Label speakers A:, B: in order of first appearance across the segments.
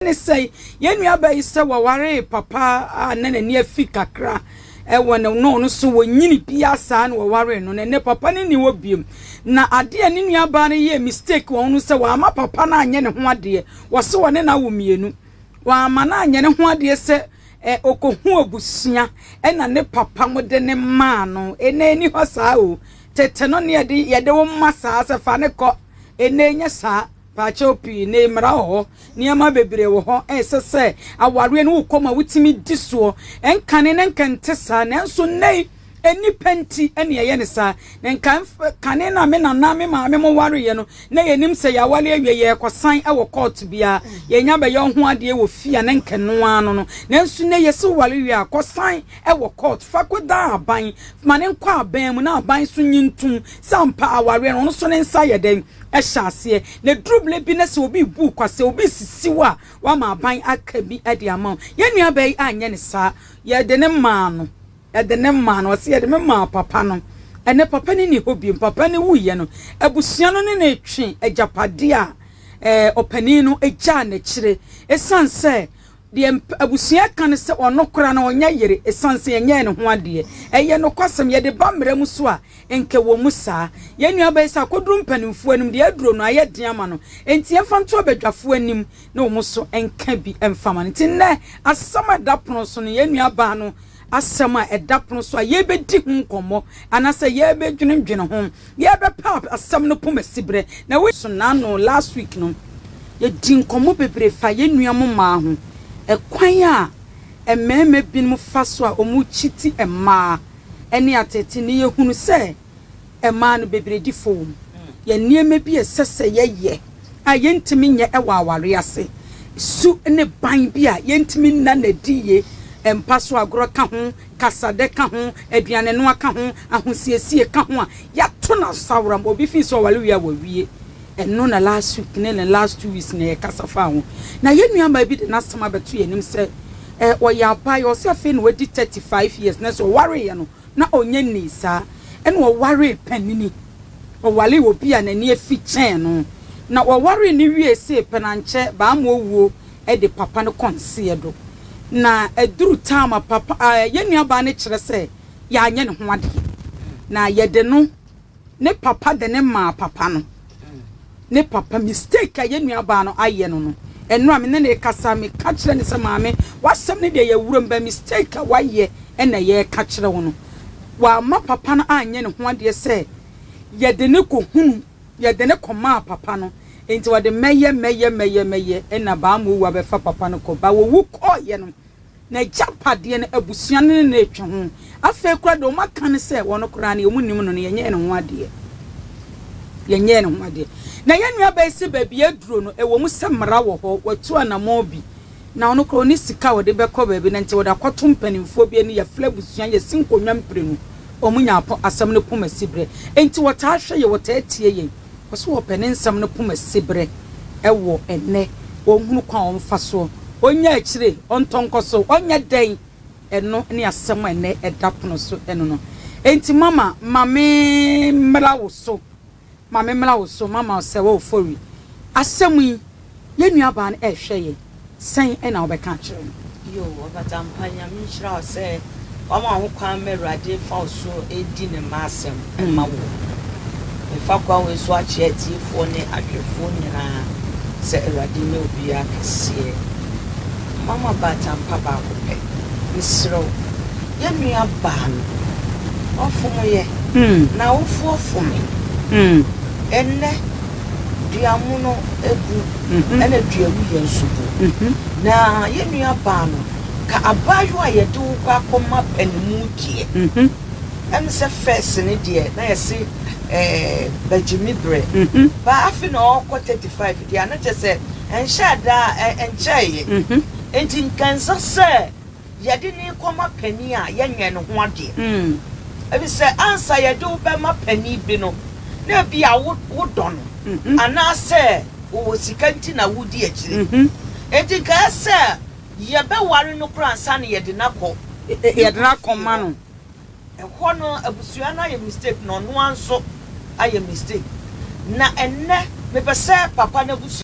A: ne sɛ yɛn nuabaa yi sɛ wɔwaree papa a na n'ani afi kakra wɔ ne no no so wɔ nyini bia saa na wɔwaree no na ɛnɛ papa no nni hɔ biom na adeɛ a ne nuabaa no yɛɛ mistake wɔn no sɛ wɔama papa no anyɛ ne ho adeɛ wɔse wɔne no awo mmienu wɔama no anyɛ ne ho adeɛ sɛ ɛ ɔkɔhu abusua ɛna ne papa mo de ne maa no ɛnɛ ɛni hɔ saa o tete no ne yɛde yɛde wo mma saa sɛ fa ne kɔ ɛnɛ nyɛ saa Paakyɛw pii ne mmara wɔ hɔ, nneɛma bebree wɔ hɔ a ɛsɛ sɛ awareɛ no wokɔ mu a wotumi di soɔ. Ɛnkane na nka ɛnte saa, nanso nnɛyi nnipa nti na ɛyɛ no saa. Na nka kane no a me nana me maame mo wareeɛ no, na yɛnim sɛ yɛaware awie yɛrekɔsan wɔ kɔɔto biara, yɛnya bɛyɛ wo ho adeɛ wɔ fie a na nka ɛno ara no no. Nanso nnɛ yɛse woware wie a, kɔsan wɔ kɔɔto, fa kɔdan aban, ma no nkɔ aban mu na aban nso nye ntom sɛ ampa awareɛ no ɔno nso ne nsa yɛ dɛn. hyɛ aseɛ na ɛduru berɛ bi na sɛ obi rebu wo kwa, sɛ obi resisi wo a, wama aban aka bi de ama wo. Yɛn nuabaa yi anyɛ no saa. Yɛde no maa no. Yɛde no maa no. Ɔse, Yɛde me maa papa no. Ɛnnɛ papa no nni hɔ bio. Papa no wuiɛ no, abusua no ne no retwe agyapadeɛ a ɔpanin no gyaa no akyire. Ɛsiane sɛ Deɛ abusua ka ne sɛ ɔno koraa no ɔnyɛ yere ɛsiane sɛ yɛnyɛɛ ne ho adeɛ. Ɛyɛ nokwasɛm, yɛde ba mmara mu so a, nka ɛwɔ mu saa. Yɛn nuabaa yi sɛ akɔduru mpanimfoɔ anim deɛ aduro no ayɛ den ama no, enti yɛmfa nto abadwafoɔ anim na wɔn nso nka bi mfa ma no. Enti nnɛ asɛm a ɛda pono so no, yɛn nuabaa no asɛm a ɛda pono so a yɛrebɛdi ho nkɔmmɔ anaasɛ yɛrebɛdwendwene ho, yɛrebɛpɛ asɛm no poma siberɛ na wo. So n'ano. Last week no yɛdii nkɔmmɔ bebree faa yɛn nua mo mmaa ho, ɛkwan a mmarima binom fa so a wɔkyiti mmaa ne ateetee ne yɛhunu sɛ. Ɛmaa no bebiredi fam. Yɛ nneɛma bi a ɛsɛ sɛ yɛyɛ a yentumi nyɛ wɔ aware ase. Su ne ban bi a yentumi nna no adi ye. Mpa so agorɔ ka ho, kasadɛ ka ho, aduanenoa ka ho, ahosiesie ka ho a yɛato no asaworam. Wɔ obi fi sɛ ɔware wie a wawie. Ɛno na last week ne ne last two weeks nyinaa yɛkasa faa ho. Na yɛn nuamaa bi de n'asɛm abɛto yɛn anim sɛ ɔyɛ abayewa, ɔse afei na wadi thirty five years nanso ɔwareeɛ no na ɔnnya nnii saa. Ɛnna ɔwaree panini. Ɔwaree obi a n'ani afi kyɛn no, na wɔwaree no wiee see pɛ no, ankyɛ Baamoɔ wuo de papa no kɔnseɛ do. Na aduru tam a papa, yɛn nuabaa no kyerɛ sɛ yɛanyɛ ne ho adeɛ, na yɛde no Ne papa de no maa papa no. Ne papa, mistake a yɛn nuabaa no ayɛ no no, ɛno a me ne no rekasa, meka kyerɛ no sɛ, Maame, w'asɛm no deɛ yɛawura mu, but mistake a wayɛ na yɛreka kyerɛ wo no. Wamma papa no anyɛ ne ho adeɛ sɛ yɛde no kɔhunu, yɛde no kɔmaa papa no. Enti wɔde mɛyɛ, mɛyɛ, mɛyɛ, mɛyɛ, ɛnna Baamoo wu abɛfa papa no kɔ. Baaowu kɔeɛ no, N'agyapadeɛ no, abusua no ne no retwe ho. Afei koraa deɛ wɔaka no sɛ ɔno koraa no, wɔnnim no no, yɛnyɛɛ ne ho adeɛ. Yɛnyɛɛ ne ho adeɛ. Na yɛn nuabaa yi se baabi a aduro no, ɛwɔ mu sɛ mmara wɔ hɔ, watu anammɔn bi. Na ɔno koraa ɔnni sika a ɔde bɛkɔ baabi, na nti ɔde akɔto mpanimfoɔ bi ani. Yɛfrɛ abusua, yɛsi nkonnwa mprenu, wɔnya asɛm no poma siberɛ. Enti wɔtaa hwɛ yɛn, wɔtaa tie yɛn. Ɔse wɔpɛ ne nsɛm no poma sibre wɔ ɛnnɛ ɔnhunu kwan a ɔmfa soɔ ɔnya akyire ɔntɔ nkɔ so ɔnyɛ dɛn ɛno ne asɛm a ɛnnɛ ɛda pono so ɛno no ɛnti mama ma me mmra wo so ma me mmra wo so mama sɛ wofori asɛm yi Yɛn nuabaa no rehwɛ yɛn, sɛn na wobɛka akyerɛ no? Yiw, ɔfata
B: mpa. Nyame nhyira wo sɛ woama ho kwan ma Awurade fa wo so redi Ne mma asɛm ma wo. Mefa kwan wei so akyerɛ atiefoɔ ne ahwɛfoɔ nyinaa sɛ Awurade nyɛ obiara kɛseɛ. Mma mo abaatampa baako pɛ. Mesrɛ wo, yɛn nuabaa no, wafom yɛ, n'awofoɔ fomee, ɛnnɛ, dua mono gu ɛna dua wuyɛ nso gu na yɛn nua baa no ka abaayewa a yɛde wo kɔ akɔ ma panimu deɛ ɛne sɛ fɛs ne deɛ na yɛse ɛɛ bagyimi brɛ ba afe na ɔkɔ 35 deɛ ana kyɛ sɛ ɛnhyɛ adaa ɛnkyɛɛyɛ nti nkansa sɛ yɛde no rekɔma panin a, yɛnyɛ ne ho adeɛ. Ɛfiri sɛ, ansa yɛde wo bɛma panin bi no, na ebia wodɔ no, anaasɛ ɔwɔ sika nti na wodi akyire. Enti anka ɛyɛ sɛ yɛbɛware no koraa ansa na yɛde no akɔ ne kunu
A: fie hɔ. Ɛhɔ
B: no, abusua no ayɛ mistake, na ɔno ara nso ayɛ mistake. Na ɛnnɛ, mepɛ sɛ papa no abusua.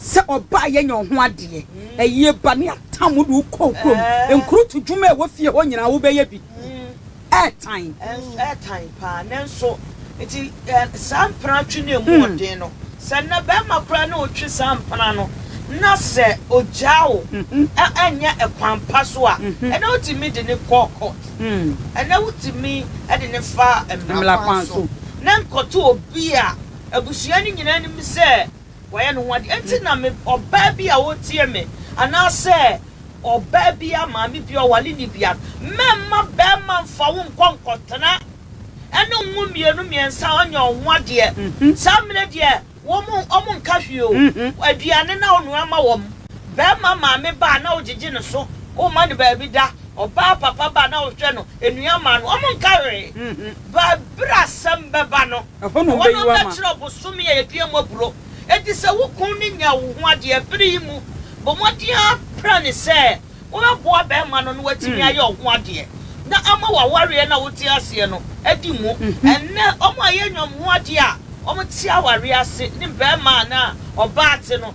A: Sɛ ɔbaa yɛnyɛ wo ho adeɛ ayie ba ne atam wode wo kɔɔ kurom nkurutu dwuma ɛwɔ fie hɔ nyinaa wobɛyɛ bi ɛɛtan. Ɛnso ɛɛtan
B: paa nanso nti saa mpena twe no ɛmu ɔden no sɛ nnɛ bɛɛma koraa ne wo twe saa mpena no na sɛ ogyaa wo ɛnyɛ ɛkwan pa so a ɛnɛ wotumi de ne kɔ court ɛnɛ wotumi de ne fa mmra kwan so ne nkɔto obi a abusua no nyinaa nim sɛ. Wayɛ ne ho ade. Enti na me, ɔbaa bi a ɔretie me, anaasɛ ɔbaa bi a maame bi a ɔware nni biara, mɛmma barima mfa wo nkɔ nkɔtena ɛne wo mmienu mmiɛnsa a ɔnyɛ wo ho adeɛ. Saa mmerɛ deɛ, wɔn, wɔnka hwee o. Aduane na wonoa ma wɔn. Barima maame ba a, na wogyegye ne so. Womma no baabi da. Ɔbaa papa ba a, na wohwɛ no, nnuan ma no. Wɔnka hwee. But berɛ a asɛm bɛba no, Ɛhɔ na wɔbɛyi wo ama. Wɔbɛkyerɛ
A: ɔbosome a yɛdua
B: mu aburoo. Enti sɛ wo kunu no nya wo ho adeɛ bere yi mu, bɔ mmɔden ara pira no sɛ wobɛboa barima no na watumi ayɛ wo ho adeɛ na ama w'awareɛ no a wote aseɛ no adi mu. Ɛnnɛ, wɔn a yɛanya wɔn ho adeɛ a wɔte awareɛ ase ne mmarima anaa ɔbaa te no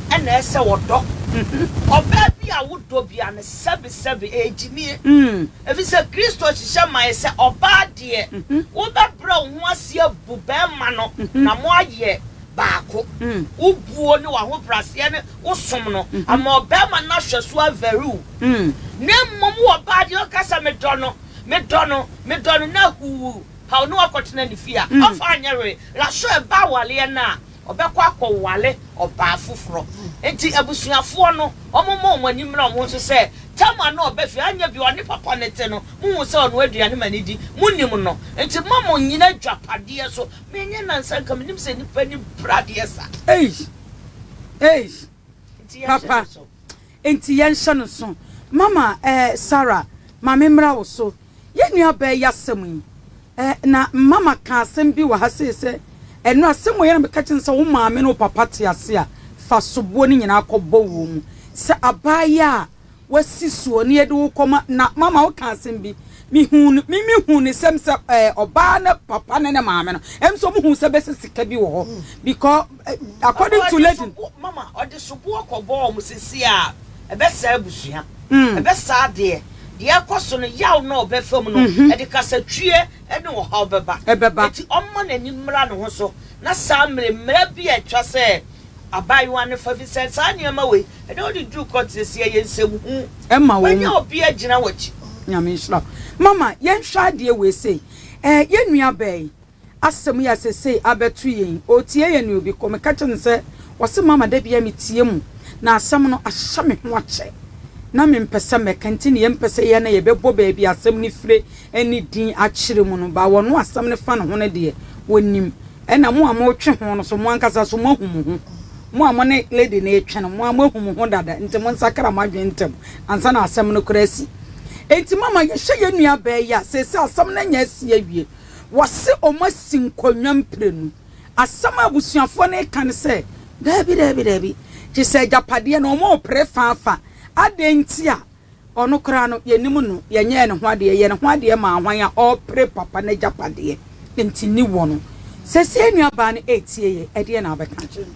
B: na ɛsɛ wɔdɔ. Ɔbaa bi a wodɔ biara no, sɛbesɛbe, ɛyɛ gyimie. Ɛfiri sɛ Kristo hyehyɛ maeɛ sɛ, ɔbaa deɛ, wobɛbrɛ wo ho ase abu barima no na moayɛ baako. Wo buo ne w'ahobraseɛ ne wo som no ama ɔbarima no ahwɛ so avɛre wo. Na mmom wo ɔbaa deɛ, woka sɛ, Medɔ no, medɔ no, medɔ no, na huu, paw no akɔtena ne fie a, ɔmfa nyɛ hwee. Raso ɛba awareɛ no a, Ɔbɛkɔ akɔware ɔbaa foforɔ. Enti abusuafoɔ no, wɔmmɔ wɔn ani mmra wɔn ho so sɛ, Tamar no a ɔba fie, anyɛ bi a ɔne papa no te no, mohu sɛ ɔnoa aduane ma no di? Monim no. Enti mma mo nnyina agyapadeɛ so. Menyɛ nnansa nka menim sɛ nnipa ani bere adeɛ sa. Ei! Ei!
A: Papa, enti yɛnhyɛ no nso. Mama, ɛɛ, Sara, ma memmra wo so. Yɛn nuabaa yi asɛm yi, ɛ, na mma maka asɛm bi wɔ ha sei sɛ, Ɛno a, sɛ mmɔyɛ na meka kyerɛ no sɛ wo maame ne wo papa te ase a, fa soboɔ no nyinaa kɔbɔ wɔn mu. Sɛ abaayewa a wasi soɔ na yɛde wo kɔma, na mama woka asɛm bi, mehuu no, me, mehuu ne sɛm sɛ, ɛ, ɔbaa no papa ne ne maame no, ɛm nso wɔhuu sɛ bɛsɛ sika bi wɔ hɔ, because, ɛ, according to lady no. Sobo, mama, ɔde soboɔ
B: kɔbɔɔ wɔn, seesei a, ɛbɛsɛe abusua, ɛbɛsɛe adeɛ. Deɛ ɛrekɔ so no, yaw na ɔbɛfa mu no, ɛde kasatwie ne ɔhaw bɛba. Enti ɔmma n'ani mmra ne ho so, na saa mmere mmara bi a ɛtwa sɛ abaayewa no fa, ɛfiri sɛ saa nneɛma wei, ɛda wode duru kɔɔto no, sɛ ɛyɛ nsɛmhu a, wanya obi
A: agyina w'akyi.
B: Nyame nhyira wo.
A: Mama, yɛnhwɛ adeɛ wei sei. Ɛɛ, yɛn nua bɛn? Asɛm yi a seesei abɛto yɛn yi, ɔretie yɛn nea obi kɔ. Meka kyerɛ no sɛ, Wɔse mama da biara metie mu, na asɛm no ahyɛ me ho akyɛ, na mempɛ sɛ mɛka, nti nea mepɛ sɛ yɛyɛ na yɛbɛbɔ baabi a asɛm no fire ne din akyerɛ mu no, ba wɔn a asɛm no fa ne ho no deɛ, wɔnim. Ɛnna mo a moretwe ho no nso, mo ankasa nso moahu mo ho. Mo a mo ne lady no retwe no, mo ara moahu mo ho dada, nti monsakra mo adwene ntɛm ansa na asɛm no koraa asi. Enti mama yɛhyɛ yɛn nuabaa yi a seesei asɛm no anya asi awie wɔse wɔn asi nkonnwa mprenu. Asɛm a abusuafoɔ no reka ne sɛ, Daabi, daabi, daabi, gye sɛ agyapadeɛ no wɔrepere faafa. Adɛn nti a ɔno koraa no yɛnnim no, yɛnyɛɛ ne ho adeɛ, yɛyɛ ne ho adeɛ maa hwan a ɔrepere papa no agyapadeɛ nti, nni wɔn. Seesei nuabaa no retie yei, ɛdeɛn na wobɛka akyerɛ no?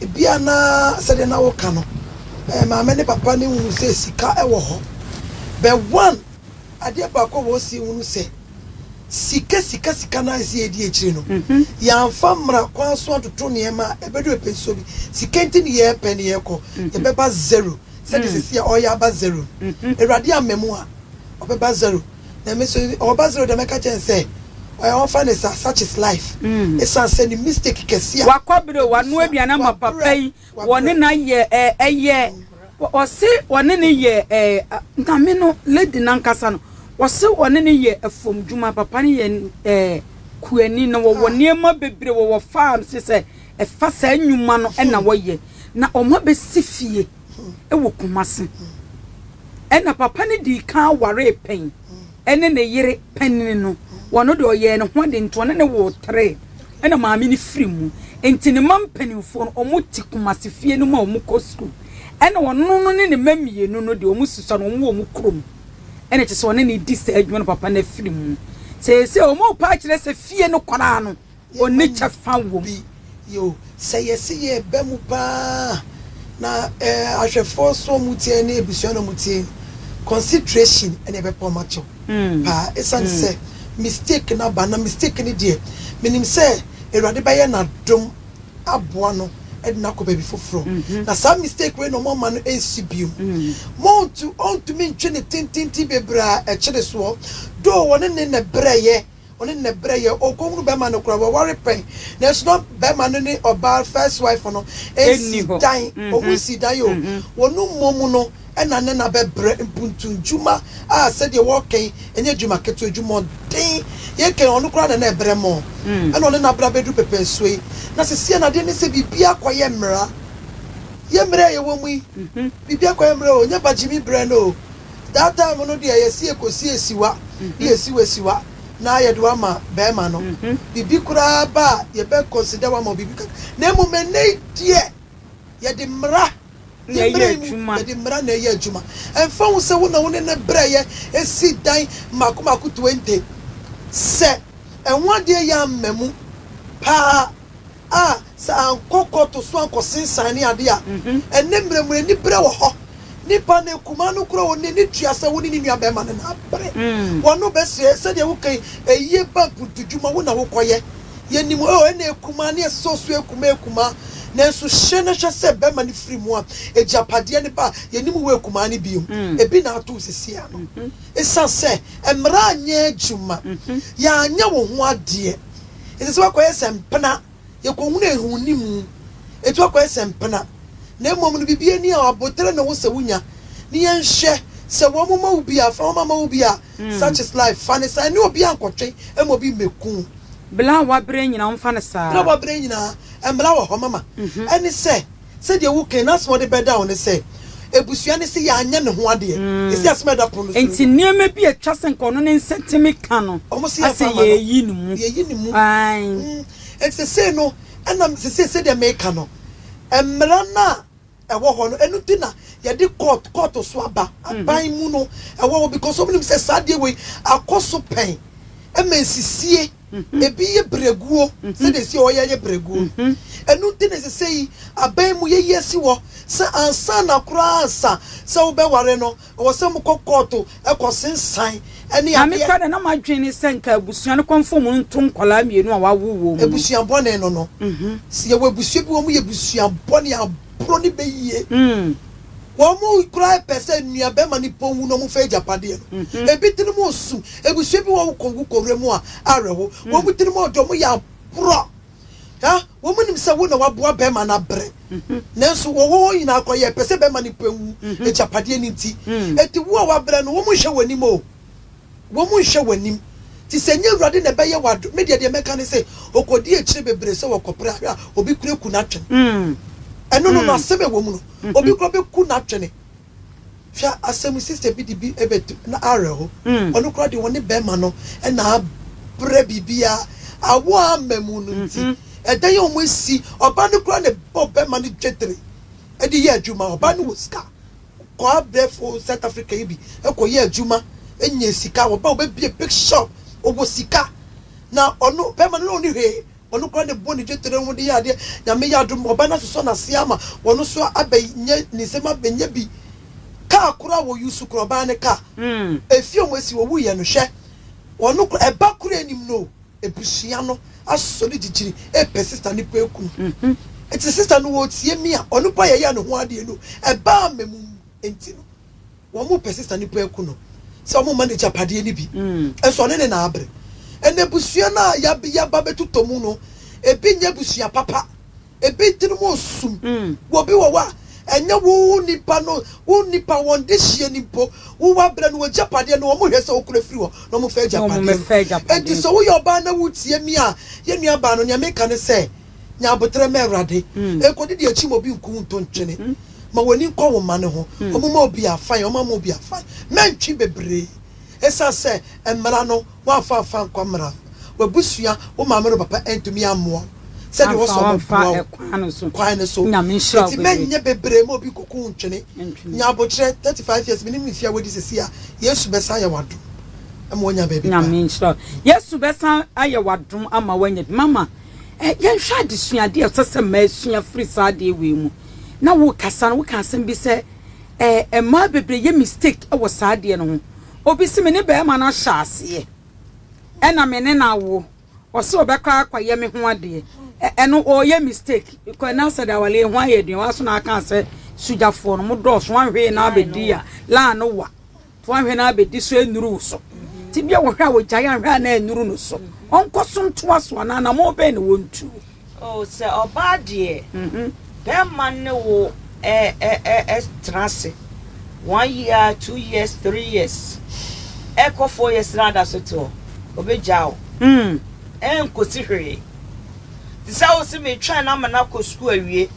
C: Ebia na sɛdeɛ na woka no, eh, maame ne papa no nhunu sɛ sika wɔ hɔ. But one, adeɛ baako a wɔsi hunu sɛ, sika, sika, sika no ara si yɛdi akyire no. Mm-hmm. Yɛamfa mmara kwan so atoto nneɛma a ɛbɛdu ɛpɛ nsuo bi. Sika nti ne yɛrepɛ ne yɛrekɔ. Mm-hmm. Yɛbɛba zero. Sɛdeɛ mm. sɛsi a ɔyɛ aba zero. Mm-hmm. Awurade amma mu a, ɔbɛba zero. na me nso ɔwɔ ba zero deɛ mɛka kyɛn sɛ ɔyɛ wɔmfa ne saa such is life ɛsiane sɛ ne mistake kɛse a Wakwabre o wanoa aduane
A: ama papa yi wɔne no ayɛ ɛyɛ ɔse wɔne no yɛ nyame no lady no ankasa no ɔse wɔne no yɛ fam dwuma papa no yɛ kuani na wɔwɔ nneɛma bebree wɔwɔ farm se sɛ ɛfa saa nnwuma no na wɔyɛ na wɔn abɛsi fie. wɔ Kumasi. Ɛna papa no dii kan waree pɛn ne ne yere panin no. Ɔno deɛ ɔyɛɛ ne ho ade nti ɔne no woo three ɛna maame no firi mu. Nti ne mma mpanimfoɔ no wɔte Kumasi fie no mu a wɔkɔ sukuu. Ɛna ɔno no ne ne mma mmienu no deɛ wɔsusua no wɔwɔ wɔn kurom. Ɛna kyerɛ sɛ ɔne no redi saa adwuma no papa no afiri mu. Seesei wɔrepɛ akyerɛ sɛ fie no koraa no. onni kyɛfa wom. Yiw, sɛ
C: yɛse yɛreba mu paa a, na ahwɛfo nso a wɔte ha ne abusua no a wɔte ha no, consideration na ɛbɛpa wɔn akyɛ wo paa esiane sɛ mistake no aba. Na mistake no deɛ, minim sɛ Awurade bɛyɛ n'adom aboa no de no akɔ baabi foforo. Na saa mistake wei na wɔama no ansi bio. Mount ntumi ntwe no tententen bebree a ɛkyere soɔ, though wɔne no na ɛbrɛeɛ. Ɔne no na ɛbrɛ yɛ ɔkɔ hunu bɛma no koraa wɔware pɛn nanso na bɛma no ne ɔbaa first wife no nsi dan ɔmu nsi dan yɛ o wɔ no mmɔ mu no ɛna ne na bɛbrɛ mpuntu ndwuma a sɛdeɛ wɔkɛ yi ɛnyɛ dwuma ketewa dwuma ɔden yɛ kɛ ɔno koraa na na ɛbrɛ mɔ ɛna ɔne na bra bɛduru pɛpɛ nsuo yi na sɛsiɛ na adeɛ ne sɛ biribi akɔ yɛ mmera yɛ mmera yɛ wɔ mu yi biribi akɔ yɛ mmera o nyɛ bagyimi brɛ no o. That time no deɛ yɛse yɛkɔsi asiwa ne yɛsi wo asiwa na yɛde wo ama bɛɛma no biribi koraa ba a yɛbɛ consider wo ama wo biribi kakra na mmom ɛnnɛ yi deɛ yɛde mmara ne mmere yi mu yɛde mmara na ɛyɛ adwuma ɛmfa ho sɛ wo na wo ne ne brɛyɛ ɛsi dan mmaako mmaako 20 sɛ ɛho adeɛ yɛ amma mu paa A Sɛ ankɔ kɔɔto so ankɔsensan ne ade a, ɛnnɛ mmerɛ mu no aniberɛ wɔ hɔ. Nipa no akumaa no kura wo nnɛ ne tua sɛ wo ne ne nua bɛrima no na abere. W'ano bɛsɛe. Sɛdeɛ woka yi, ayie bank mu dwuma wo na wokɔyɛ. Yɛnim o, ɛna akumaa ne ɛsɛ sɛ ɔsoa akumaa akumaa. Nanso hyɛ na hwɛ sɛ bɛrima no firi mu a, agyapadeɛ no ba a, yɛnim wo akumaa no bio. Ebi na ato wo seesei ara no. Ɛsiane sɛ mmara anyɛ adwuma, yɛanyɛ wo ho adeɛ. Ɛsɛ sɛ wakɔyɛ sɛ mpena, yɛkɔhunu ahunni mu. Enti wakɔyɛ sɛ mpena. Na mmom no, biribiara nni a aboterɛ na ɛwɔ sɛ wonya. Ne yɛnhwɛ, sɛ wɔma wo bi a, fa wɔma ma wo bi a, such is life. Fa no saa, ɛne obiara nkɔtwe mma obi mmɛku wo. Bla wo aberɛ
A: nyinaa, ɔmfa no saa. Bla wo aberɛ nyinaa,
C: mmla wɔ hɔ mama. Ɛne sɛ. Sɛdeɛ wo Kain asɛm a ɔde bɛda wo ne sɛ, Abusua no se yɛanyɛ ne ho adeɛ, ɛsi asem a ɛda pono no so no Enti mu. nneɛma bi a ɛtwa
A: sɛ nka ɔno ne nsɛnteme ka no Wɔn se yɛmfa asɛ mma no, yɛyi no mu. yɛyi no mu. Aane. Mm,
C: enti sesei no, ɛna sesei sɛdeɛ meka no, mmara no a ɛwɔ hɔ no, ɛno nti na yɛde kɔɔt, kɔɔto so aba, aban mu no ɛwɔ hɔ, because wɔn nim sɛ saa adeɛ wei akɔ so pɛn, ɛma nsisie. Ebi yɛ berɛguo, sɛdeɛ ɛsɛ ɔyɛ yɛ berɛguo. Ɛno nti na ɛsɛ sɛ yi aban mu yɛyi asi hɔ sɛ ansa na koraa ansa sɛ wobɛware no, ɛwɔ sɛ mokɔ kɔɔto kɔ sensan ne adeɛ. Maame Kada, na m'adwene
A: ne sɛ nka abusua no kɔmfom mu nto nkwadaa mmienu a wɔawo wɔn mu. Abusua bɔne no no.
C: Sɛ yɛwɔ abusua bi wɔyɛ abusua bɔne a. boro ne bɛ yie. Wɔn mu koraa pɛ sɛ nuabɛma ne pon wu na wɔfa agyapadeɛ no. Ebi tirim osu. Abusua bi wɔ hɔ wokɔ wu kɔ wura mu a, awerɛho. Wɔn mu tirim ɔdɔ, wɔn yɛ aporɔ. Hɛ! Wɔn nim sɛ wo na waboa bɛma no abrɛ. Nanso wɔwɔ hɔ nyinaa koraa yɛpɛ sɛ bɛma ne pon wu agyapadeɛ no nti. Enti wo a wabrɛ no, wɔnhwɛ wɔn anim o. Wɔnhyɛ w'anim. Nti sɛ ɛnyɛ Awurade na ɛbɛyɛ wo adom, me deɛ deɛ mɛka ne sɛ, ɔkɔdi akyire bebree sɛ wɔkɔpere ahwɛ a, obi koraa ku n'atwene. Ɛno no, no asɛm a ɛwɔ mu no, obi koraa bɛku n'atwene. Hwɛ asɛm yi, sister bi de bi bɛto, na awerɛho. Ɔno koraa deɛ, ɔne barima no na abrɛ biribiara, awoɔ a amma mu no nti, ɛdan a wɔasi, ɔbaa no koraa na ɛbɔɔ barima no dwetire de yɛɛ adwuma, ɔbaa no wɔ sika. Kwaabɛfo South Africa yi bi kɔyɛɛ adwuma nyaa sika, wɔba wɔbɛbue big shop, ɔwɔ sika, na ɔno bɛrima no na ɔnni hwee, ɔno koraa na ɛbɔ ne dwetire ho de yɛ adeɛ, Nyame yɛ adom ɔba no asosɔ n'aseɛ ama ɔno nso abɛyɛ ne nsam abɛnya bi, kaa koraa wɔ use koraa ɔbaa no kaa, efie a wɔasi wɔwuiɛ no hwɛ, ɔno koraa ɛba koraa nnim no o. Ebusua no asosɔ ne gyigyiri repɛ sista ne pɛ kunu. Ntsi sista no ootsie me a, ɔno mpo a yɛyɛɛ no ho adee no, ɛbaa amamu ntsi no, wɔrepɛ sista ne pɛ kunu sɛ wɔmma no egyapadeɛ no bi, nso ɔne ne na abre. Nna ebusua no a yɛaba bɛtotɔ mu no, bi nnyɛ ebusua papa, Ebi tirim osum wɔ bi wɔ hɔ a, ɛnyɛ wo nipa no, wo nipa, wɔn dehyeɛ no mpo, wo wabrɛ no w'agyapadeɛ no, wɔn hwɛ sɛ wokura firi hɔ na wɔn fa agyapadeɛ no. Enti sɛ woyɛ ɔbaa na wotie me a, yɛn nua baa no, nea meka ne sɛ, nya aboterɛ ma Awurade. Ɛkɔdi deɛ akyi ma obi nku wo nto ntwene. Ma w'ani nkɔ wo mma no ho. Wɔn mma obi afan, wɔn ama obi afan. Mɛntwi bebree. Esiane sɛ mmara no woamfa amfa ankɔ mmara no, w'abusua, wo maame ne wo papa antumi ammoa wo sɛdeɛ ɛwɔ sɛ wɔboa wo kwan no so. Enti mɛnyɛ
A: bebree ma
C: obi nkɔku wo ntwene. Nya aboterɛ, thirty five years, mennim mfeɛ a woadi seesei a, Yesu bɛsan ayɛ w'adom ama woanya baabi pa. Nyame nhyira wo.
A: Yesu bɛsan ayɛ w'adom ama woanya bi. Mama, yɛnhwɛ adesuadeɛ a ɛsɛ sɛ mmaa sua firi saa adeɛ wei mu. Na worekasa no, wokaa asɛm bi sɛ. Eh mmaa bebree yɛ mistake wɔ saa adeɛ no ho. Obi se me ne barima no ahyɛ aseɛ ɛna me ne no awo, ɔse ɔbɛkɔ akɔyɛ me ho adeɛ, ɛno ɔyɛ mistake because na sɛ dawale ho ayɛ aduane, waso na aka sɛ sogyafoɔ no mo dɔɔso, wanhwee na abɛdi a laa no wa. To anhwɛ na abedi so ennuru wo so. Tebea wɔ hɔ a ogyae anhwɛ a na ennuru no so. Ɔnkɔ so ntoa so anaa anammɔn bɛn na ontu? O, sɛ
B: ɔbaa deɛ, bɛrima ne wo tena ase one year, two years, three years, ɛkɔ four years na ada so te hɔ, obegyaa wo. Ɛnkosi hwee. Te sɛ wo se metwɛn no ama no akɔ sukuu awie,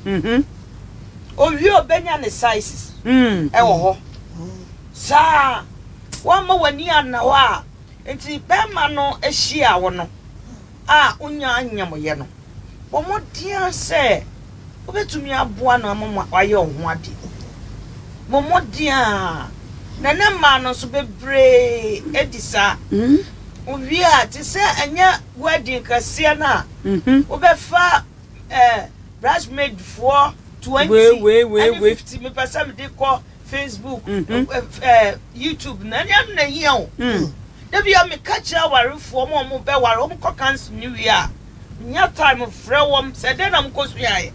B: Owie a obenya ne sizes wɔ hɔ. Saa ara, woamma w'ani anna hɔ a enti barima no hyiaa wo no a wunyaa nyamyɛ no, bɔ mmɔden ara sɛ wubetumi aboa no ama wayɛ wo ho ade. Bɔ mmɔden ara, na ɛnnɛ mmaa no nso bebree di saa. Owie a, te sɛ ɛnyɛ wedding kɛseɛ no a wobɛfa eh, bridesmaid foɔ twenty ɛne fifty me pɛ sɛ me de kɔ Facebook, mm-hmm. eh, eh, YouTube na ɛne ano na ehia o. Mm. Dabi a me ka kyerɛ awarefoɔ mo a wɔn bɛ ware wɔn kɔ kansil ne wie a, nya time frɛ wɔn sɛ dɛn na mo kɔ suaeɛ.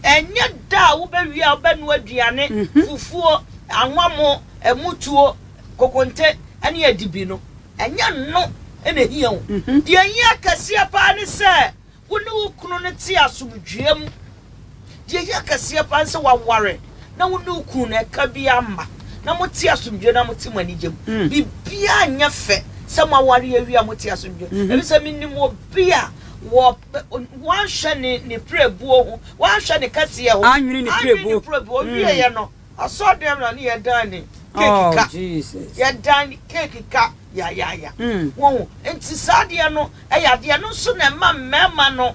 B: Ɛnyɛ da a wobɛwie a wobɛnoa aduane, mm-hmm. fufuo, anwamo, ɛmutuo, kokonte ɛne adibi no. Ɛnyɛ no ɛna ehia o. Mm-hmm. Deɛ ehia kɛseɛ paa ne sɛ. Wo ne wo kunu no te asomdwoeɛ mu. Deɛ ɛhia kɛseɛ paa ne sɛ waware na wo ne wo kunu no ɛka biara mma na mote asomdwoeɛ na mote mo anigye mu. Mm. Biribiara nyɛ fɛ sɛ moaware awie a mote asomdwoeɛ. Mm-hmm. Ebi sɛ menim obi a wɔ wanhwɛ ne ne pirebuo ho, wanhwɛ ne kɛseɛ ho, anwene ne pirebuo, anwene ne
A: pirebuo, ɔwieɛ mm. no
B: Asɔr dɛm na ne yɛdan ne cake ka. Yɛdan ne
A: cake
B: ka yayaaya. Wohu? Ntsi saa adeɛ no yɛ adeɛ, no nso na ɛma mmarima no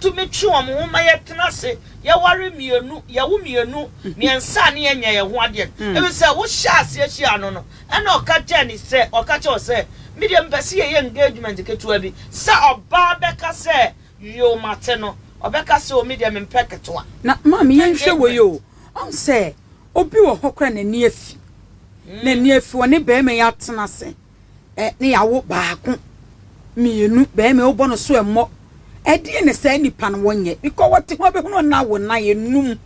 B: tumi twe wɔn ho ma yɛtena ase, yɛware mmienu, yɛwo mmienu, mmiɛnsa a ne yɛnya yɛn ho adeɛ no. Ɛfiri sɛ, wohyɛɛ aseɛ hyiaa no no, ɛnna ɔka kyerɛɛ ne sɛ, ɔka kyerɛɛ wo sɛ, Me deɛ mepɛ sɛ yɛyɛ engagement ketewa bi. Sɛ ɔbaa bɛka sɛ, Yow, mate no, ɔbɛka sɛ, O, me deɛ mempɛ ketewa. Na, maame, yɛnhwɛ
A: wei o. Ɔn sɛ obi wɔ hɔ koraa a n'ani afi. N'ani afi ɔne barima yi atena ase ne yɛawo baako, mmienu, barima yi wobɔ no so mmɔ. Ɛdeɛ na saa nipa no wɔnyɛ because wɔte ho abɛhunu ɔno awo nnan enum.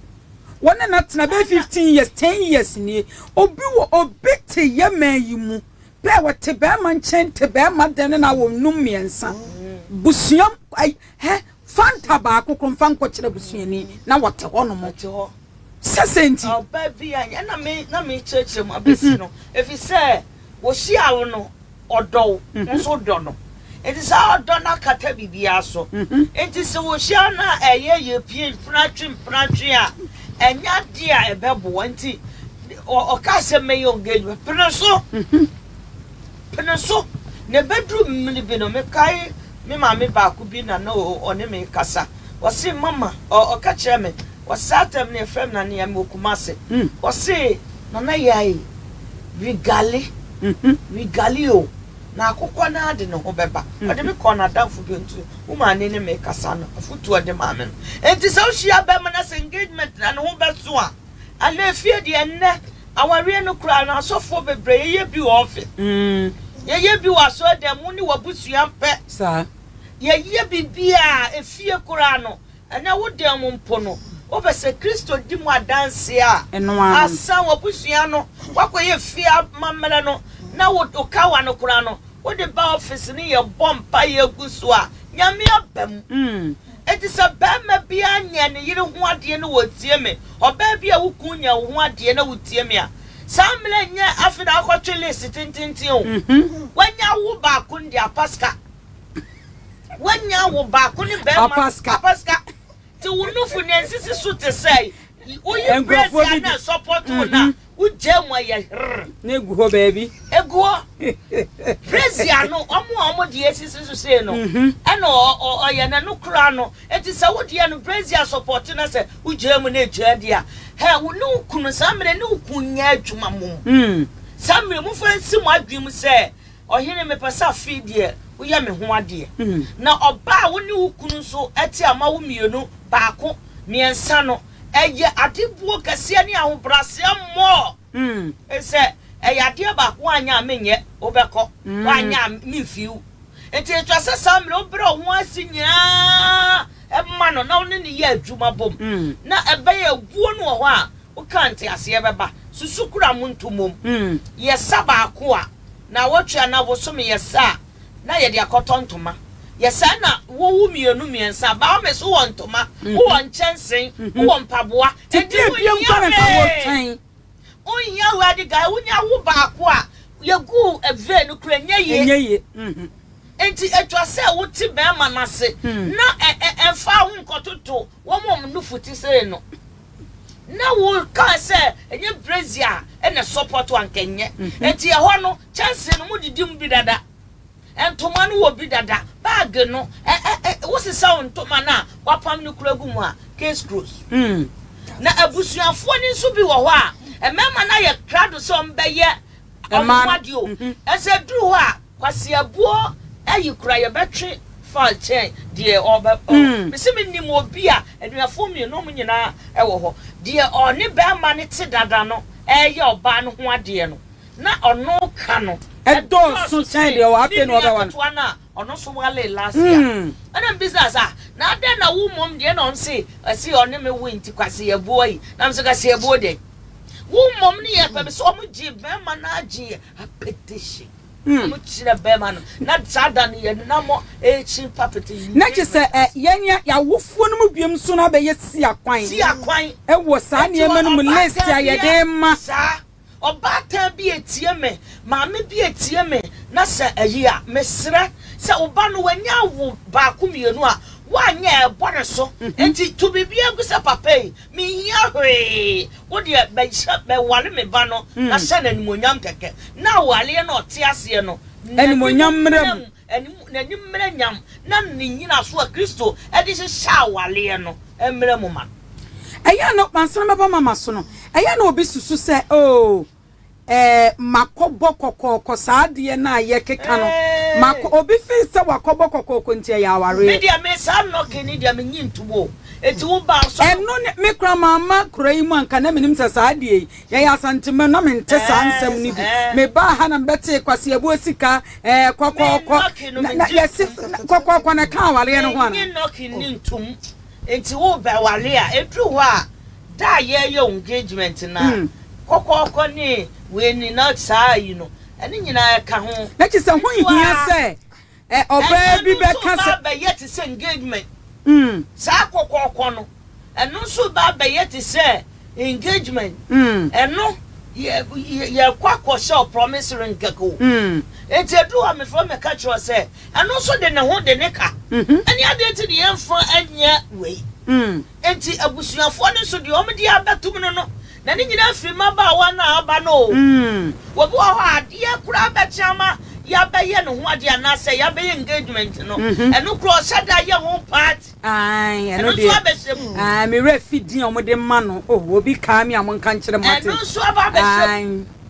A: Wɔn ne no atena bɛyɛ fifteen years, ten years nie. Obi wɔ obi te yɛ man yi mu pɛ wɔte barima nkyɛn te barima dɛn ne no awo nnum mmiɛnsa. Busuam ai hɛ Fanta baako koro mfa nkɔkyerɛ busuani na wɔte hɔnom sɛ sɛ nti. Ɔbaa bi a
B: ɛna me na mekyerɛkyerɛ mu abɛsi no ɛfiri sɛ wɔhyia wo no ɔdɔ wo nso dɔ no nti saa ɔdɔ no akata biribiara so nti sɛ wɔhyia no a ɛyɛ yɛ pie mpenatwe mpenatwe a ɛnyɛ adeɛ a ɛbɛboa nti ɔkaa sɛ mɛyɛ engagement pene so Pene so, na ɛbɛduru mmere bi no, mekae me maame baako bi na na ɔne me rekasa. Ɔse, Mama, ɔka kyerɛɛ me, ɔse, saa tam no yɛfrɛ me Nana Yae, mewɔ Kumasi. Ɔse, Nana Yae, regali, regali o, na akokɔ no ara de ne ho bɛba. Ɔde me kɔɔ n'adamfo bi hɔ, nti wo maame ne me rekasa no, afotu a ɔde maa me no. Enti sɛ wohyia bɛmma na sɛ engagement na ne ho bɛso a, Anaa efie deɛ nnɛ awareɛ no koraa no asɔfoɔ bebree yɛyɛ bi wɔ office, yɛyɛ bi wɔ asɔrdan mu ne w'abusua pɛ. Saa.
A: Yɛyɛ
B: biribiara efie koraa no ɛnɛ wo dan mu mpo no wopɛ sɛ Kristo di mu adanseɛ a. Ɛno ara no. Asan w'abusua no wakɔyɛ efie amammerɛ no na wo wo kawa no koraa no wode ba office ne yɛbɔ mpaeɛ gu so a Nyame aba mu. Enti sɛ barima biara nyɛ ne yere ho adeɛ na wɔtie me, ɔbaa bi a wo kunu nyɛ wo ho adeɛ na wotie me a, saa mmara yi nyɛ afe na akɔtwe list tententen o. Wanya awo baako no deɛ, apa sika. Wanya awo baako ne barima no, apa sika. Nti wo nofo nea nsisi so te sɛ woyi brɛsi a na ɛsɔpɔto wo no a, Wogyaa mu ayɛ herr. Na egu hɔ
A: baabi. Egu hɔ.
B: Presia no, wɔn a wɔn deɛ esisi so sei no, ɛna ɔyɛ na ɛno koraa no, eti sɛ wo deɛ no presia sɔpɔte na sɛ wogyaa mu na egyaa deɛ a, herr wo ne wo kunu saa mmerɛ ne wo kunu nyɛ adwuma mmom. Saa mmerɛ mo fa nsi mo adwene mu sɛ, Ɔhene mepɛ sɛ afei deɛ woyɛ me ho adeɛ. Na ɔbaa a wo ne wo kunu nso te a moawo mmienu, baako, mmiɛnsa no, Ɛyɛ ade buo kɛseɛ ne ahobraseɛ mmɔɔ. Ɛfiri sɛ ɛyɛ adeɛ baako woanyɛ a menyɛ, wobɛkɔ, woanyɛ a memfiri wo. Enti ɛtwa sɛ saa mmerɛ wobrɛ wo ho ase nyinaa ma no na wo ne no yɛ adwuma bom na ɛbɛyɛ awuo no wɔ hɔ a wokaa nteaseɛ bɛba. Susu kura mo nto mmom. Yɛ sa baako a, nnawɔtwe anaa bosome yɛ sa a. na yɛde akɔtɔ ntoma. Yɛ saa na wowo mmienu mmiɛnsa. Baomes, wowɔ ntoma, wowɔ nkyɛnse, wowɔ mpaboa. Enti wonhia
A: hwee. Wonhia
B: wei ade guy. Wonya wo baako a, yɛgu vee no kora ɛnyɛ yie. Ɛnyɛ yie. Enti ɛtwa sɛ wote bɛrima no ase na ɛmfa wo nkɔtoto wɔn a wɔn nufu te sei no. Na wo kaa sɛ ɛnyɛ brazier a na ɛsɔ pɔtɔ anka ɛnyɛ. Enti ɛhɔ no kyɛnsee no modidi mu bi dada, ntoma no wɔ bi dada, bag no ɛ ɛ ɛ wosesaw ntoma no a wapam no kura gu mu a case close. Na abusuafoɔ no nso bi wɔ hɔ a mmarima no ayɛ krado sɛ wɔbɛyɛ Ɔyɛ ho adeɛ o. Ɛsɛ duru hɔ a kwaseabuo ayi kura yɛbɛtwe far kyɛn deɛ ɔbɛ ɔ mese me nim obi a anuafoɔ mmienu ɔmo nyinaa ɛwɔ hɔ deɛ ɔne bɛɛma no te dada no ɛɛyɛ ɔbaa no ho adeɛ no na ɔno ka no ɛdɔɔso
A: kyɛn deɛ ɔwɔ afei na ɔbɛwa no. Ne nua ketewa no a ɔno nso walee
B: last year ɛna mbisa no sɛ ah na adɛn na wo mmom deɛ na ɔno se ɔse ɔne me woe nti kwaseabuo ayi na mese kwaseabuo dɛn. Wo mmom ne yɛ pɛ me sɛ wɔn gye bɛrima no agye yɛ apetition. Hmm. Wɔn kyerɛ bɛrima no na saa da no yɛ nam ekyi papete. Na kyerɛ sɛ ɛ
A: yɛn yɛ awofoɔ no mu biom so na bɛyɛ si akwan. Si akwan. Ɛwɔ saa nneɛma no mu list a yɛde ma. Saa
B: ɔbaatan bi etie me maame bi etie me na sɛ ɛyi a mesrɛ sɛ ɔba no wɔnyɛ awo baako mmienu a wɔanyɛ ɛbɔ ne so. Eti to biribi egu sɛ papa yi Menhia hwee, wo deɛ bɛhyɛ, bɛware me ba no na hyɛ no animuonyam kɛkɛ, na awareɛ no a ɔte aseɛ no, n'anim mmra
A: mu, n'anim mmra
B: nyam, na ne nnyinasoɔ a Kristo de hyehyɛ awareɛ no mmra mu ma no. Ɛyɛ a na
A: ɔkwansɛn bɛba ma maso no, ɛyɛ a na obi susu sɛ, Oh! Ɛɛ, makɔbɔ kɔkɔɔkɔ saa adeɛ no a yɛkeka no. Makɔ, obi feel sɛ wakɔbɔ kɔkɔɔkɔ nti ɛyɛ awareɛ. Me deɛ me saa knocking
B: no deɛ menye ntom o, enti wo ba ɔsɔ. Ɛno ne, me koraa
A: mamma kuro yi mu anka na menim sɛ saa adeɛ yi, yɛyɛ Asantema na mente saa nsɛm no bi. Mebaa ha na mebɛtee Kwasi Abuo sika, ɛɛ, kɔkɔɔkɔ, na, na, yɛse, na, kɔkɔɔkɔ na ɛka awareɛ no ho anaa? Menye knocking no ntom,
B: enti wo bɛware a, ɛduru hɔ a. Da a yɛreyɛ engagement no a kɔkɔɔkɔ ne wei ne na saa yi no, ɛno nyinaa ɛka ho. Na kyerɛ sɛ ho nhia
A: sɛ ɔbaa bi bɛka sɛ. Ɛno nso ba abɛyɛ te sɛ engagement.
B: Saa kɔkɔɔkɔ no, ɛno nso ba abɛyɛ te sɛ engagement. Ɛno yɛkɔ akɔhyɛ ɔpromise ring kɛkɛ o. Enti ɛduru hɔ a mefrɛ mɛka kyerɛ wo sɛ ɛno nso de ne ho de ne ka. Ɛne adeɛ nti ne yɛmfa nyɛ wei. Enti abusuafoɔ no nso deɛ wɔde abɛtom no no, na ne nyinaa firi mmabaawa no a aba no o. Obi wɔ hɔ a, adeɛ koraa bɛkye ama yɛabɛyɛ ne ho adeɛ anaasɛ yɛabɛyɛ engagement no, ɛno koraa ɔhyɛ da yɛ ho party. Aane, ɛno
A: deɛ. Ɛno nso abɛhyɛ mu. Aane, me werɛ fi din a wɔde ma no.
B: Oh,
A: obi kaa me a
B: monka
A: nkyerɛ mate. Ɛno nso
B: aba
A: abɛhyɛ mu. Aane.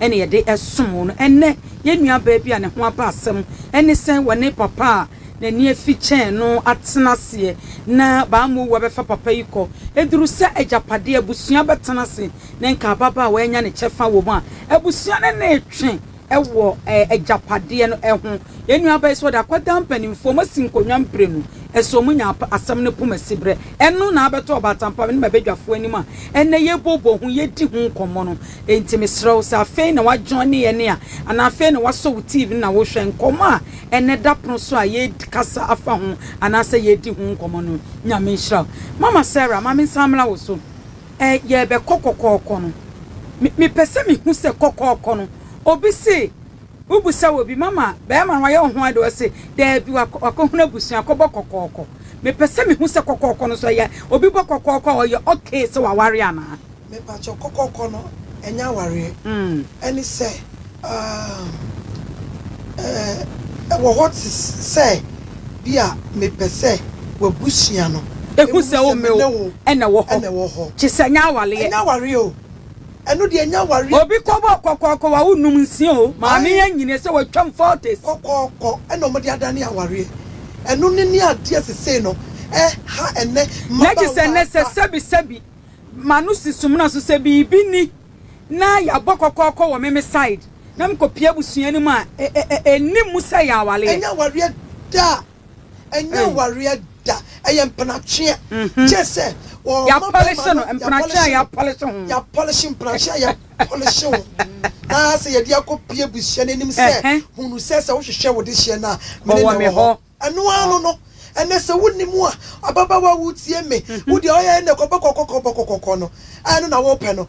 A: na yɛde som wo no. Ɛnnɛ, yɛn nuabaa bi a ne ho aba asɛm ne sɛ wɔne papa a n'ani afi kyɛɛ no atena ase na bammɔwu abɛfa papa yi kɔ. Ɛduru sɛ agyapadeɛ a abusua bɛtena ase ne nkaababaa wɔanya ne kyɛfa wɔ mu a, abusua no na ɛtwe wɔ agyapadeɛ no ho. Yɛn nuabaa yi, sɛ ɔde akwadaa mpanimfoɔ, moasi nkonnwa mprenu, ɛsɛ ɔnya asɛm no poma siberɛ. Ɛno na abɛtɔ ɔbaatampaa me ne m'abadwafoɔ anim a ɛnnɛ yɛbobɔ ho, yɛdi ho nkɔmmɔ no. Enti mesrɛ wo, sɛ afei na woajoine yɛn a, anaa afei na woasɔ wo TV no na worehwɛ, nkɔmmɔ a ɛnnɛ da pono so a yɛkasa afa ho anaasɛ yɛredi ho nkɔmmɔ no, Nyame nhyira wo. Mama Sarah, ma mensan mmra wo so. Ɛɛ, yɛrebɛkɔ kɔkɔɔkɔ no, me, mepɛ sɛ mehu sɛ kɔkɔɔkɔ no, obi se, Wobisa obi, Mama, barima no wayɛ wo ho ade? Ɔse, Daabi, wakɔhunu abusua, akɔbɔ kɔkɔɔkɔ. Mepɛ sɛ mehu sɛ kɔkɔɔkɔ no so ɛyɛ, obi bɔ kɔkɔɔkɔ a ɔyɛ ok sɛ waware anaa? Mepakyɛw, kɔkɔɔkɔ
C: no ɛnyɛ awareɛ. Ɛne sɛ, umm, ɛwɔ hɔ te sɛ bi a mepɛ sɛ w'abusua no ɛhu sɛ me ne wo
A: na ɛwɔ hɔ. Kyesɛ ɛnyɛ awareɛ. Ɛnyɛ awareɛ o.
C: Ɛno deɛ ɛnyɛ awareɛ. Obi kɔbɔɔ kɔkɔɔkɔ
A: wa wo num nsia o maame yɛ nyini sɛ wa twam forties. Kɔkɔɔkɔ ɛna
C: ɔmo de adane awareɛ ɛno ne ne adeɛ sesei no ɛha ɛnɛ mmabaawa a. Nɛ gyesɛ nɛ
A: sɛ sɛbi sɛbi ma no si so mena so sɛ biribi ni na yabɔ kɔkɔɔkɔ wɔ me me side na me kɔ pie abusua no mu a ɛnim mu sɛ ɛyɛ awareɛ. Ɛnyɛ awareɛ
C: daa. Ɛnyɛ Ei. awareɛ da, ɛyɛ mpenatweɛ Gye sɛ wɔma bɛɛma no Yɛapɔlehye
A: no, mpenatweɛ a yɛapɔlehye ho. Yɛapɔlehye mpenatweɛ
C: a yɛapɔlehye ho Na sɛ yɛde akɔ pie abusua no anim sɛ Ɛhɛ. Hunu sɛ sɛ wohwehwɛ wo dehyeɛ no a Me Ɔwɔ ne me na ɛwɔ hɔ hɔ. Ɛno ara no no Ɛnɛ sɛ wonni mu a Ababaawa wotie me Wo deɛ ɔyɛ ɛnɛ kɔbɔkɔkɔkɔbɔkɔkɔkɔ no a Ɛno na wopɛ no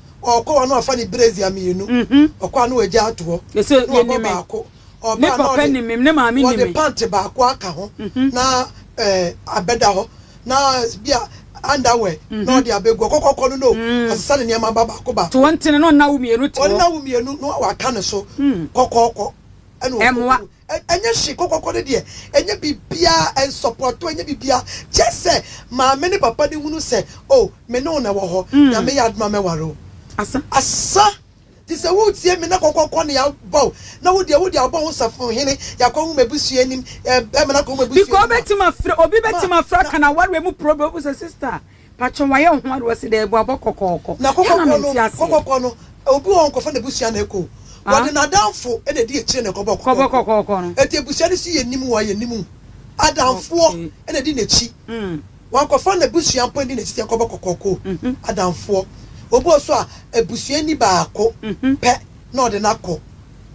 C: Ɔɔkɔ hɔ na ɔfa ne brazier mmienu, ɔkɔ a na wagya ato hɔ, na wabɔ baako.
A: Ɔba a na ɔde ɔde pant baako aka
C: ho na ɛɛ abɛda hɔ na bi a underwear na ɔde abɛgu hɔ. Kɔkɔkɔ no no, ɔsesa ne nneɛma ba baako baako. To wo ntini na ɔnna wo mmienu
A: to hɔ. Ɔnna wo mmienu na
C: waka ne so kɔkɔkɔ ɛna ɔkɔ. Ɛmmoa. Ɛnyɛ hwee, kɔkɔkɔ no deɛ ɛnyɛ biribiara, ɛnsɔpɔto, ɛnyɛ biribiara, just sɛ maame ne papa no hunu sɛ oh me ne wo na ɛwɔ hɔ, Nyame yɛ adom a mɛware wo. Asa, te sɛ woretie me na kɔkɔkɔ na yɛabɔ wo, na wo deɛ, wo deɛ abɔ wo safohene, yɛakɔhu m'abusua anim, bɛrima no akɔhu
A: m'abusua anim a, ma, na, na. Pakyɛw wayɛ wo ho ade wɔse dɛɛ bɔ abɔ kɔkɔɔkɔ Na kɔkɔkɔ no yɛna mente aseɛ.
C: Kɔkɔkɔ no obi wɔ hɔ nkorɔfoɔ na abusua na ɛkɔ o wɔde nadamfo na ɛdi akyire na ɛkɔbɔ kɔkɔkɔ kɔbɔ kɔkɔɔkɔ no
A: ɛti abusua no si yɛ nim
C: wɔ yɛ nim adamfoɔ okay na ɛdi nakyi mm wɔn kɔfoɔ na abusua mpo ɛdi nakyi sɛ ɛkɔbɔ kɔkɔkɔ o mhm adamfoɔ obi wɔ so a abusua ni baako mhm pɛ na ɔde no akɔ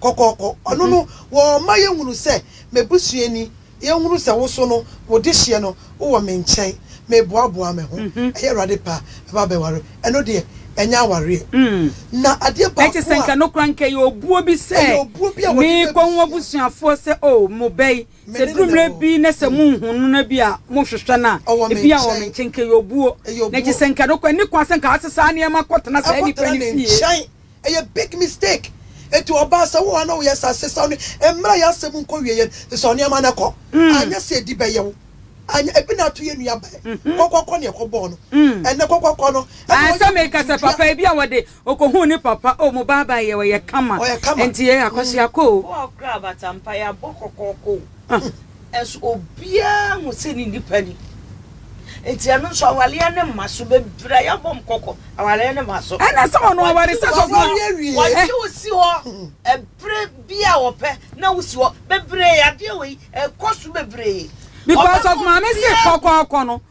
C: kɔkɔkɔ ɔno mhm no wɔma yɛ hunu sɛ mabusua ni Yɛnhunu sɛ wo so no, wo dehyeɛ no, wowɔ me nkyɛn, meboaboaa me ho, ɛyɛ Awurade pɛ a, mɛba abɛware wo. Ɛno deɛ, ɛnyɛ awareɛ. Na adeɛ baako a. Ɛte sɛ anka no koraa, anka
A: ɛyɛ obuo bi sɛ. Ɛyɛ obuo bi a wɔde bɛbusua. Mekɔ ho abusuafoɔ sɛ, O, mo ba yi, sɛ ɛduru mmerɛ bi na sɛ monhunu no na bi a mohwehwɛ no a, ebi a ɔwɔ me nkyɛn, anka ɛyɛ obuo. Na ɛte sɛ anka no koraa, ɛnni kwan sɛ anka wɔasesa nneɛma akɔtena saa nipa no fie. Ɛyɛ big
C: mistake. Enti ɔbaa sɛ wo a na woyɛ saa sesaw no mmra yɛ asɛm nkɔwie yɛn sesaw nneɛma no kɔ anyɛ sɛ edi bɛyɛ wo anyɛ ebi na ato yɛn nua bɛn kɔkɔ kɔ nea ɛkɔbɔɔ no ɛnɛ kɔkɔ kɔ no ɛna ɔyɛ sɛ meka sɛ
A: papa ebi a wɔde ɔkɔhuu ne papa o mo baa baa yɛ ɔyɛ kama enti yɛ akɔsoa kɔ o. Wo a ɔkra abatampa
B: yɛ abɔ kɔkɔɔkɔ o. Nanso obiara hu sɛ ne nipa ni. Enti ɛno nso awareɛ ne mma so. Bebree a yɛabɔ wɔn kɔkɔ, awareɛ ne mma so. Ɛna sɛ ɔno aware
A: sɛ sɔfo a. Wɔgye wo
B: si hɔ ɛberɛ bi a wɔpɛ na wosi hɔ. Bebree, adeɛ wei ɛkɔ
A: so
B: bebree.
A: Because of
B: maame
A: se
B: kɔkɔɔkɔ
A: no.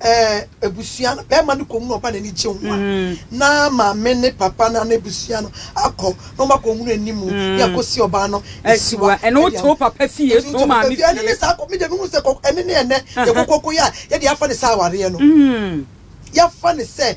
C: Ɛɛ, abusua no bɛrima no kɔhunu ɔba n'ani gye ho a, na maame ne papa no anaa abusua no akɔ na wɔakɔhunu anim ne akɔsi ɔbaa no asiwa. Ɛne wo to
A: papa fie, to maame fie. Ɛne ne saa kɔ, me deɛ mehunu sɛ kɔ,
C: ɛne ne ɛnɛ yɛkɔ kɔkɔyɛ a yɛde afa ne sɛ awareɛ no. Yɛafa ne sɛ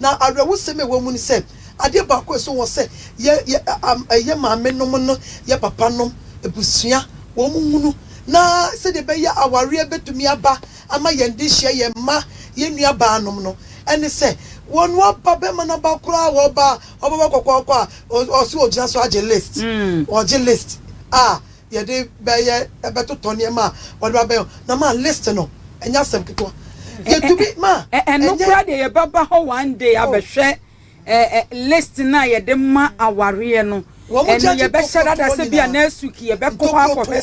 C: Na awerɛhosɛm a ɛwɔ mu ne sɛ, adeɛ baako a ɛsɔ wɔ sɛ yɛ yɛ am yɛ maame nom no yɛ papa nom, abusua, wɔn hunu na sɛdeɛ ɛbɛyɛ awareɛ bɛtumi aba ama yɛn de hyia yɛn mma, yɛn nua baa nom no, ɛne sɛ wɔn aba bɛma no aba koraa wɔ ɔbaa ɔbɛba kɔkɔɔkɔ a ɔse ɔgyina so agye list, ɔgye list a. yɛde bɛyɛ bɛtotɔ nneɛma a wɔde ba bɛyɛ na ma list no ɛnyɛ asɛm ketewa yɛtumi ma ɛno koraa deɛ
A: yɛbɛba hɔ one day oh. abɛhwɛ list no a yɛde ma awareɛ no ɛno yɛbɛhyɛ dada sɛ bi a next week yɛbɛkɔ hɔ akɔhwɛ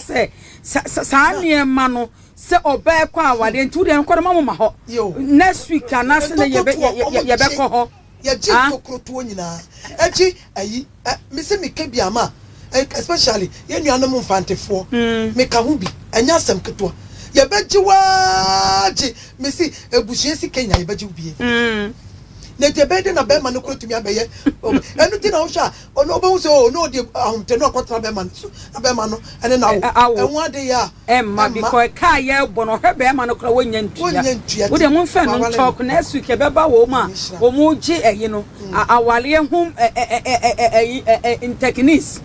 A: sɛ saa nneɛma no sɛ ɔbaa ɛkɔ awareɛ nti wodeɛ nkɔde ma moma hɔ next week anaasɛ na yɛbɛkɔ hɔ yɛgye ah. ntokorɔtoɔ
C: nyinaa ɛgye ayi Eh me se meka bi ama a especially yɛn nuanom Mfantefoɔ me ka ho bi ɛnyɛ asɛm ketewa yɛbɛgye wo aa gye me se abusua si Kenya yɛbɛgye wo bie na ɛti ɛbɛyɛ dɛn na bɛɛma no kora tumi abɛyɛ ɛno ti na wohwɛ a ɔno wobɛhu sɛ oo na ɔde ahomte no akɔtena bɛɛma no so na bɛɛma no ɛne na wo ɛho adeyɛ a Ɛmma bikɔ ɛka
A: a yɛbɔ no ɔhwɛ bɛɛma no koraa wɔnnya ntua wode mo mfɛ no ntɔɔk next week ɛbɛba wɔn a wɔn gye ɛyi no awaleɛ ho ɛyi ntɛkinis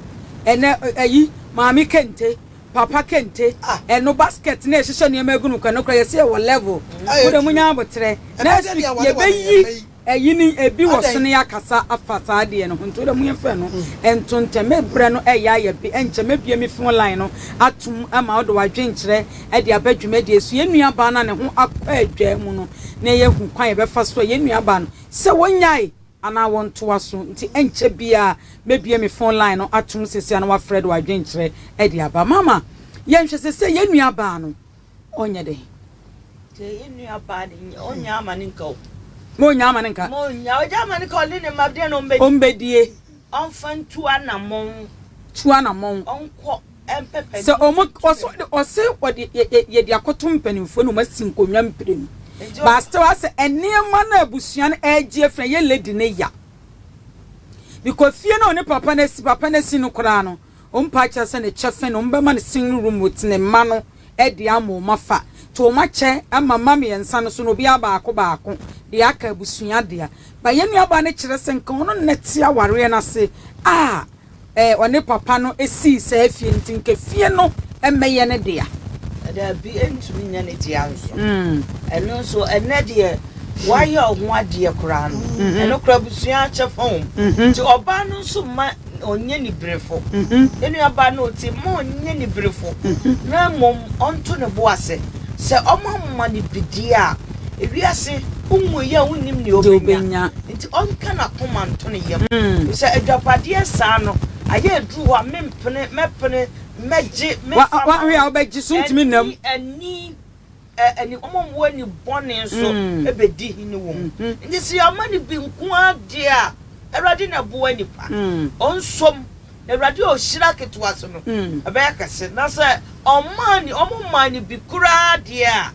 A: ɛnɛ ɛyi maame kente papa kente ɛno basket na ɛhyehyɛ nneɛma egu no koraa no koraa yɛsɛ yɛwɔ level wode mo nya abotrɛ next week yɛbɛyi Eyi ne ebi wɔ so ne yɛakasa afa saa adeɛ no ho nti wodɛ mo yɛmfa ɛno nto ntɛm. Me berɛ no reyɛ ayɛ be ɛnkyɛ mɛbue me phone line no atom ama wode w'adwenkyerɛ de aba dwumadie so. Yɛn nuabaa no a ne ho akɔ adwaa mu no na yɛahu kwan a yɛbɛfa so a yɛn nuabaa no sɛ wɔnyae anaa wɔntoa so nti ɛnkyɛ biara mɛbue me phone line no atom seesei a na wafrɛ de w'adwenkyerɛ de aba. Mama yɛnhwɛ sɛsɛ yɛn nuabaa no. ɔnyɛ dɛn? Sɛ yɛn nua
B: baa de, ɔnnya ama no nka o. Ma ɔnnya ama no
A: nka. Ma ɔnnya ɔgya ama no nka
B: ɔne ne mma deɛ na ɔmbɛdie. Ɔmbɛdie.
A: Ɔmfa ntu
B: anamɔn. Tu anamɔn.
A: Ɔnkɔ
B: mpɛ pɛ. Sɛ ɔmo ɔsɔ
A: ɔse ɔde yɛ yɛ yɛde akɔto mpanimfoɔ na ɔmo asi nkonnwa mprenu. But still asɛ nneɛma no a abusua no ɛgye afiri ɛyɛ lady no ya. Because fie no a ɔne papa no asi papa no asi no koraa no Ɔmpa akyɛ sɛ ne kyɛfe no ɔmbɛma no sing room with ne mma no de ama wɔn afa. Nti wɔn akyɛ ama mma mmiɛnsa no so no obiara baako baako de aka abusua dea. But yɛn nuabaa no kyerɛ sɛ nka ɔno na te awareɛ no ase a eh ɔne papa no sii saa fie no nti nka efie no mmɛyɛ ne dea. Daabi
B: ɛntumi nyɛ ne dea nso. Ɛno nso ɛnnɛ deɛ wayɛ ɔho adeɛ koraa no ɛno koraa abusua akyɛ fam. Nti ɔbaa no nso mma. ɔnyɛ niberefo. Ne nuabaa no a ɔte mu ma ɔnyɛ niberefo, na mmom ɔnto ne bo ase sɛ wɔama no bidie a wiase nwui a wonnim nea ɔbɛnya nti, ɔnka n'akoma nto ne yam. Ɛfiri sɛ agyapadeɛ saa no, ayɛ aduru hɔ a, mempene, mɛpene,
A: mɛgye, mefa ma wɔn, ɛnni ani.
B: ɛne wɔn a wɔwɔ ani bɔne nso bɛdi hene wɔ mu. Enti sɛ yɛama no bi nko ara deɛ a, Awurade na ɛboa nnipa. Ɔnsom, na Awurade a ɔhyira ketewa so no, ɛbɛyɛ kɛse. Na sɛ ɔmmaa no, wɔmmaa no bi koraa deɛ a,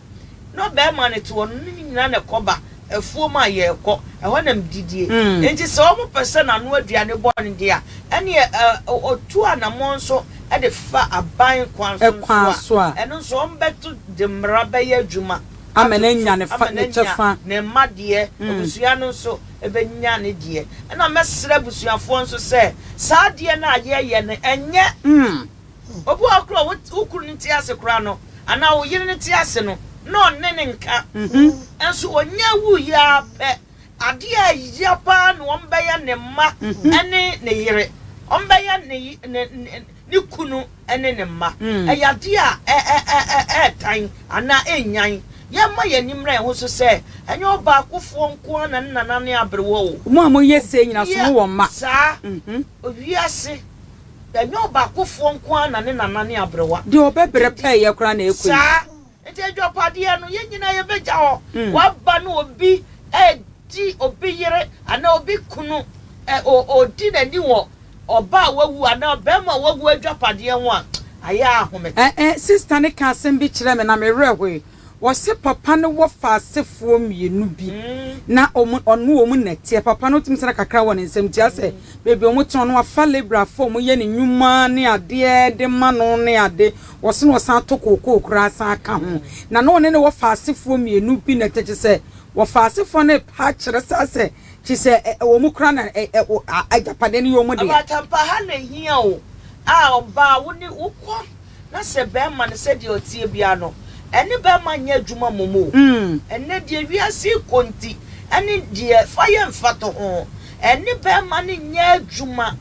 B: na ɔbarima no te hɔ no, ne nyinaa na ɛkɔba afuom a yɛrekɔ. Ɛhɔ na mididie. Enti sɛ wɔpɛ sɛ n'ano aduane bɔ no de a, ɛnneɛ ɔtu anammɔn so de fa aban kwan so nso a, ɛno nso wɔbɛto de mmara bɛyɛ adwuma ama no
A: anya ne kyɛfa. Ne mma deɛ,
B: abusua no nso bɛnya ne deɛ. Ɛnna mɛsrɛ abusuafoɔ nso sɛ saa adeɛ no a yɛreyɛ no, ɛnyɛ. Obi wɔ hɔ koraa a wo wo kunu no te ase koraa no anaa wo yere no te ase no na ɔne ne nka. Nso ɔnya wuiɛ ara pɛ adeɛ a ɛya paa na wɔbɛyɛ ne mma ne ne yere. Wɔbɛyɛ ne ye ne ne ne kunu ne ne mma. Ɛyɛ adeɛ a ɛ ɛ ɛ ɛ ɛretan anaa ɛrenyan. Yɛmma yɛn ani mmra yɛn ho so sɛ ɛnyɛ ɔbaakofoɔ nko ara na ne nanane aberewa o. Mo a moyɛ sei
A: nyinaa, so mowɔ mma? Saa.
B: Wiase Ɛnyɛ ɔbaakofoɔ nko ara na ne nana ne aberewa. Deɛ ɔbɛbrɛ pɛɛyɛ
A: koraa na ɛkɔ yi. Saa nti
B: adwapadeɛ no yɛn nyinaa yɛbɛgya hɔ. Waba no obi redi obi yere anaa obi kunu ɔredi n'ani wɔ ɔbaa a wawu anaa ɔbarima a wawu adwapadeɛ ho a, ayɛ ara ahome. Sister no kaa
A: asɛm bi kyerɛɛ me na me werɛ hoe. Wɔse papa no wɔ fa asefoɔ mmienu bi na ɔne wɔn na ɛteɛ. Papa no tumi sane kakra wɔ ne nsam tia sɛ baabi wɔn tena no wafa labourfoɔ a wɔn yɛ ne nnwuma ne adeɛ de ma no ne ade. Wɔse na ɔsane ato kookoo koraa sane ka ho. Na na ɔne ne wɔ fa asefoɔ mmienu bi na ɛteɛ kyesɛ wɔ fa asefoɔ no pa kyerɛ saa sɛ kyesɛ wɔn koraa na agyapadeɛ no yɛ wɔn dea. Awuraatampa ha na ɛhia
B: o a ɔbaa wo ne wo kɔ. Na sɛ bɛɛma no sɛdeɛ ɔteɛ biara no, ɛne bɛɛma nyɛ adwuma mmom o. Ɛnnɛ deɛ wiase rekɔ nti, ɛne deɛ fa yɛ mfato ho, ɛne bɛɛma no nyɛ adwuma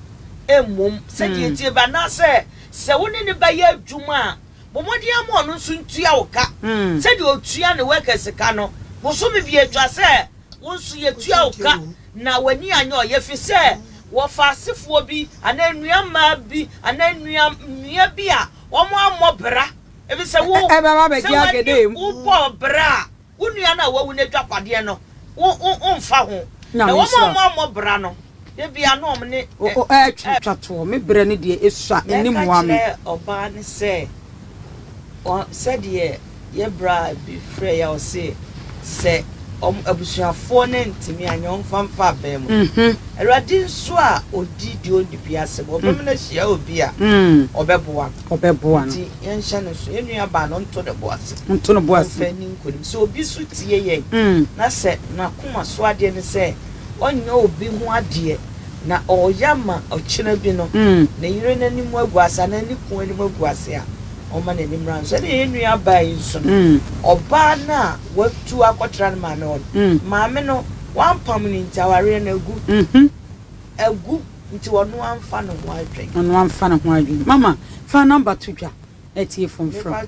B: mmom sɛdeɛ ɛteɛ biara. Anaasɛ sɛ wo ne no bɛyɛ adwuma a, bɔ mmɔden ara ma ɔno nso ntua wo ka sɛdeɛ ɔtua ne workers ka no. Bosome biara ɛtwa sɛ wo nso yɛtua wo ka Na w'ani anyɛ ɔyɛ ɛfiri sɛ wɔfa asefoɔ bi anaa nnuammaa bi anaa nnuamea bi a wɔammɔ bra, ɛfiri sɛ wo, sɛ w'ani
A: wobɔɔ bra
B: a, wo nua no a wawu no adwapadeɛ no womfa ho. Na wɔn a wɔammɔ bra no, da biara na wɔn ne. Ɛretwa toɔ, me berɛ
A: no deɛ ɛsua, ɛnni mmoa me. Na ɛka kyerɛɛ ɔbaa no sɛ,
B: Sɛdeɛ. Yɛ bra bi frɛ yɛ a ɔse sɛ ɔmo abusuafoɔ no antumi anyɛ ɔmfa mfa abɛn mo. Awurade nso a ɔdi deɛ ɔnni bi asɛm ɔbɛma no ahyia obi a ɔbɛboa no. Ɔbɛboa no. Nti yɛnhyɛ no nso. Yɛn nua baa no nto ne bo ase. Nto ne bo ase. Ɔmfa nni nkunim. Sɛ obi nso tie yɛn na sɛ n'akoma so adeɛ ne sɛ ɔnyɛ obi ho adeɛ na ɔyɛ ama ɔkyena bi no ne yere no anim agu ase anaa ne kunu anim agu ase a ɔmma n'ani mmra no so. Ɛnna yɛn nua baa yi nso no, ɔbaa no a watu akɔtra ne maame hɔ no, maame no wampam no nti, awareɛ no agu. Agu nti ɔno amfa ne ho adwene.
A: Ɔno
B: amfa ne
A: ho adwene. Mama, fa number
B: to dwa
A: na
B: atiefoɔ
A: mfrɛ wo.